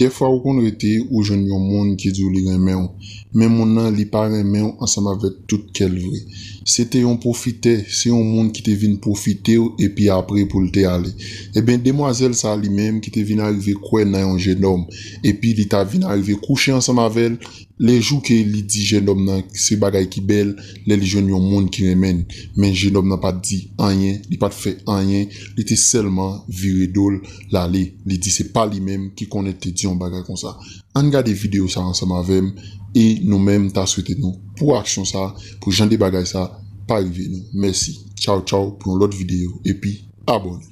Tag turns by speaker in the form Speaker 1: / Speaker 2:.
Speaker 1: Dèfwa ou konn rete ou jwenn yon moun ki di w li renmen w, men moun nan li pa renmen w ansanm avèk tout kè l vre. Se te yon pwofitè, se yon moun ki te vin pwofite w epi apre pou l te ale. Enben demwazèl sa a li menm ki te vin arive kwè nan yon jenòm epi li ta vin arive kouche ansanm avè l, lè jou ke li di jenòm nan se bagay ki bèl lè li jwenn yon moun ki renmen l, men jenòm nan pa t di anyen, li pa t fè anyen, li te sèlman vire do l. L ale, li di se pa li menm ki konnen te di yon bagay konsa. Ann gade videyo sa ansanm avè m e nou menm m ta swete nou pou aksyon sa pou jan de bagay sa pa rive nou. Mèsi. Tchaw tchaw pou yon lòt videyo epi abòne.